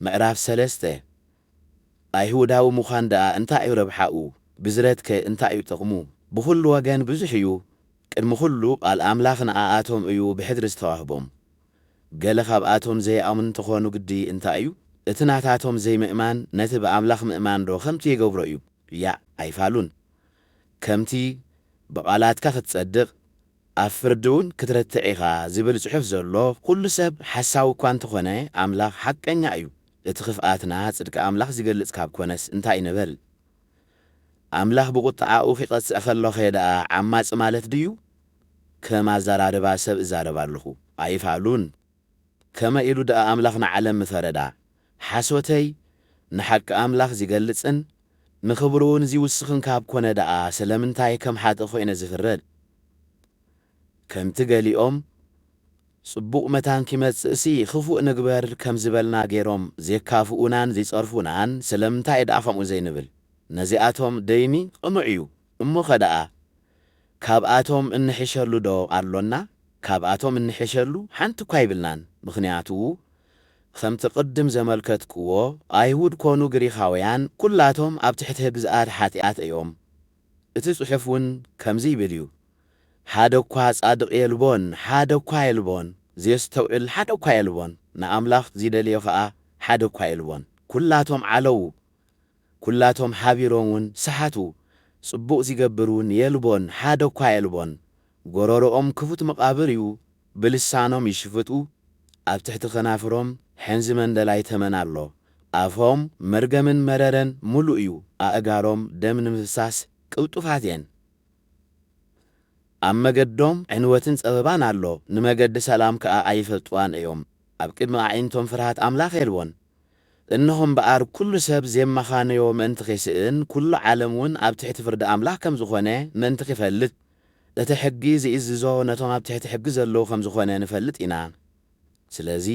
ምዕራፍ ሰለስተ፣ ኣይሁዳዊ ምዃን ደኣ እንታይ እዩ ረብሓኡ? ብዝረትከ እንታይ እዩ ጥቕሙ? ብዅሉ ወገን ብዙሕ እዩ፣ ቅድሚ ዅሉ ቓል ኣምላኽ ንኣኣቶም እዩ ብሕድሪ ዝተዋህቦም። ገለ ኻብኣቶም ዘይኣምኑ እንተ ዀኑ ግዲ እንታይ እዩ? እቲ ናታቶም ዘይምእማን ነቲ ብኣምላኽ ምእማንዶ ኸምቲ ይገብሮ እዩ? ያእ! ኣይፋሉን። ከምቲ፣ ብቓላትካ ኽትጸድቕ፣ ኣብ ፍርዲ እውን ክትረትዕ ኢኻ ዝብል ጽሑፍ ዘሎ፣ ኵሉ ሰብ ሓሳዊ እኳ እንተ ዀነ፣ ኣምላኽ ሓቀኛ እዩ። እቲ ኽፍኣትና ጽድቂ ኣምላኽ ዚገልጽ ካብ ኰነስ እንታይ ንበል? ኣምላኽ ብቝጥዓኡ ኺቐጽዕ ኸሎኸ ደኣ ዓማጺ ማለት ድዩ? ከም ኣዘራርባ ሰብ እዛረብ ኣለኹ፣ ኣይፋሉን። ከመይ ኢሉ ድኣ ኣምላኽ ንዓለም ምፈረዳ? ሓሶተይ ንሓቂ ኣምላኽ ዚገልጽን ንኽብሩውን ዚውስኽን ካብ ኰነ ደኣ ስለምንታይ ከም ሓጥእ ዀይነ ዝፍረድ? ከምቲ ገሊኦም ጽቡቕ መታን ኪመጽእሲ ኽፉእ ንግበር ከም ዝበልና ገይሮም ዜካፍኡናን ዚጸርፉናን ስለምንታይ ደኣ ኸምኡ ዘይንብል? ነዚኣቶም ደይኒ ቕኑዕ እዩ። እሞኸ ደኣ ካብኣቶም እንሕሸሉዶ ኣሎና? ካብኣቶም እንሕሸሉ ሓንቲ እኳ ኣይብልናን። ምኽንያቱ ኸምቲ ቕድም ዘመልከትክዎ፣ ኣይሁድ ኰኑ ግሪኻውያን ኵላቶም ኣብ ትሕቲ ግዝኣት ሓጢኣት እዮም። እቲ ጽሑፍ እውን ከምዚ ይብል እዩ፣ ሓደ እኳ ጻድቕ የልቦን፣ ሓደ እኳ የልቦን፣ ዜስተውዕል ሓደ እኳ የልቦን፣ ንኣምላኽ ዚደልዮ ኸኣ ሓደ እኳ የልቦን። ኵላቶም ዓለዉ፣ ኩላቶም ሓቢሮም ውን ሰሓቱ ጽቡቅ ዚገብር ውን የልቦን ሓደ እኳ የልቦን ጎሮሮኦም ክፉት መቃብር እዩ ብልሳኖም ይሽፍጡ ኣብ ትሕቲ ከናፍሮም ሕንዚ መንደላይ ተመን ኣሎ ኣፎም መርገምን መረረን ሙሉእ እዩ ኣእጋሮም ደም ንምፍሳስ ቅልጡፋት እየን ኣብ መገዶም ዕንወትን ጸበባን ኣሎ ንመገዲ ሰላም ከኣ ኣይፈልጥዋን እዮም ኣብ ቅድሚ ኣዒንቶም ፍርሃት ኣምላኽ የልቦን እነሆ እምበኣር፣ ኵሉ ሰብ ዜመኻንዮ ምእንቲ ኺስእን፣ ኵሉ ዓለምውን ኣብ ትሕቲ ፍርዲ ኣምላኽ ከም ዝዀነ ምእንቲ ኺፈልጥ፣ እቲ ሕጊ ዚእዝዞ ነቶም ኣብ ትሕቲ ሕጊ ዘለዉ ኸም ዝዀነ ንፈልጥ ኢና። ስለዚ፣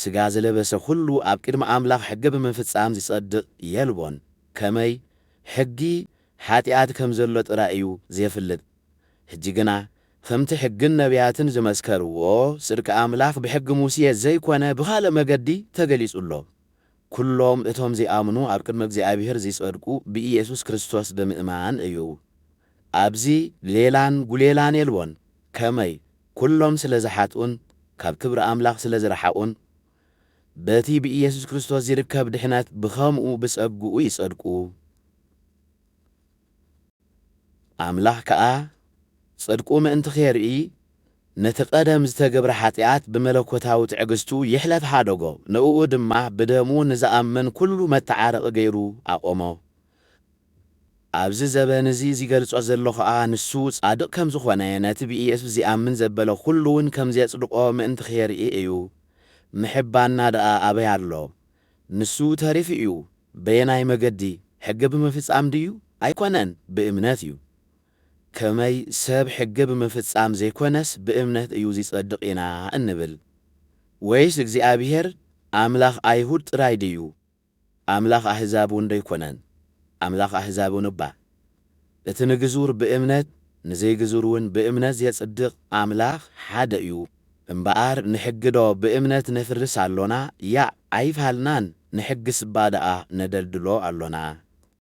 ስጋ ዝለበሰ ዅሉ ኣብ ቅድሚ ኣምላኽ ሕጊ ብምፍጻም ዚጸድቕ የልቦን። ከመይ? ሕጊ፣ ሓጢኣት ከም ዘሎ ጥራይ እዩ ዜፍልጥ። ሕጂ ግና ኸምቲ ሕግን ነብያትን ዝመስከርዎ ጽድቂ ኣምላኽ ብሕጊ ሙሴ ዘይኰነ ብኻልእ መገዲ ተገሊጹ ኣሎ። ኵሎም እቶም ዚኣምኑ ኣብ ቅድሚ እግዚኣብሄር ዚጸድቁ ብኢየሱስ ክርስቶስ ብምእማን እዩ። ኣብዚ ሌላን ጕሌላን የልቦን። ከመይ? ኵሎም ስለ ዝሓጥኡን ካብ ክብሪ ኣምላኽ ስለ ዝረሓቑን በቲ ብኢየሱስ ክርስቶስ ዚርከብ ድሕነት ብኸምኡ ብጸግኡ ይጸድቁ። ኣምላኽ ከኣ ጽድቁ ምእንቲ ኼርኢ፣ ነቲ ቐደም ዝተገብረ ሓጢኣት ብመለኮታዊ ትዕግስቱ ይሕለፍ ሓደጎ፣ ንእኡ ድማ ብደሙ ንዝኣምን ኵሉ መተዓረቒ ገይሩ ኣቖሞ። ኣብዚ ዘበን እዚ ዚገልጾ ዘሎ ኸኣ፣ ንሱ ጻድቕ ከም ዝዀነ፣ ነቲ ብኢየሱስ ዚኣምን ዘበለ ዅሉውን ከም ዜጽድቖ ምእንቲ ኼርኢ እዩ። ምሕባንና ደኣ ኣበይ ኣሎ? ንሱ ተሪፉ እዩ በየናይ መገዲ ሕገ ብምፍጻም ድዩ ኣይኮነን ብእምነት እዩ ከመይ ሰብ ሕገ ብምፍጻም ዘይኮነስ ብእምነት እዩ ዚጸድቅ ኢና እንብል ወይስ እግዚኣብሄር ኣምላኽ ኣይሁድ ጥራይ ድዩ ኣምላኽ ኣህዛብ እውን ዶ ኣይኮነን ኣምላኽ ኣህዛብ እውን እባ እቲ ንግዙር ብእምነት ንዘይግዙር ውን ብእምነት ዜጽድቕ ኣምላኽ ሓደ እዩ። እምበኣር ንሕግዶ ብእምነት ነፍርስ ኣሎና? ያእ ኣይፋልናን ንሕግስ'ባ ደኣ ነደልድሎ ኣሎና።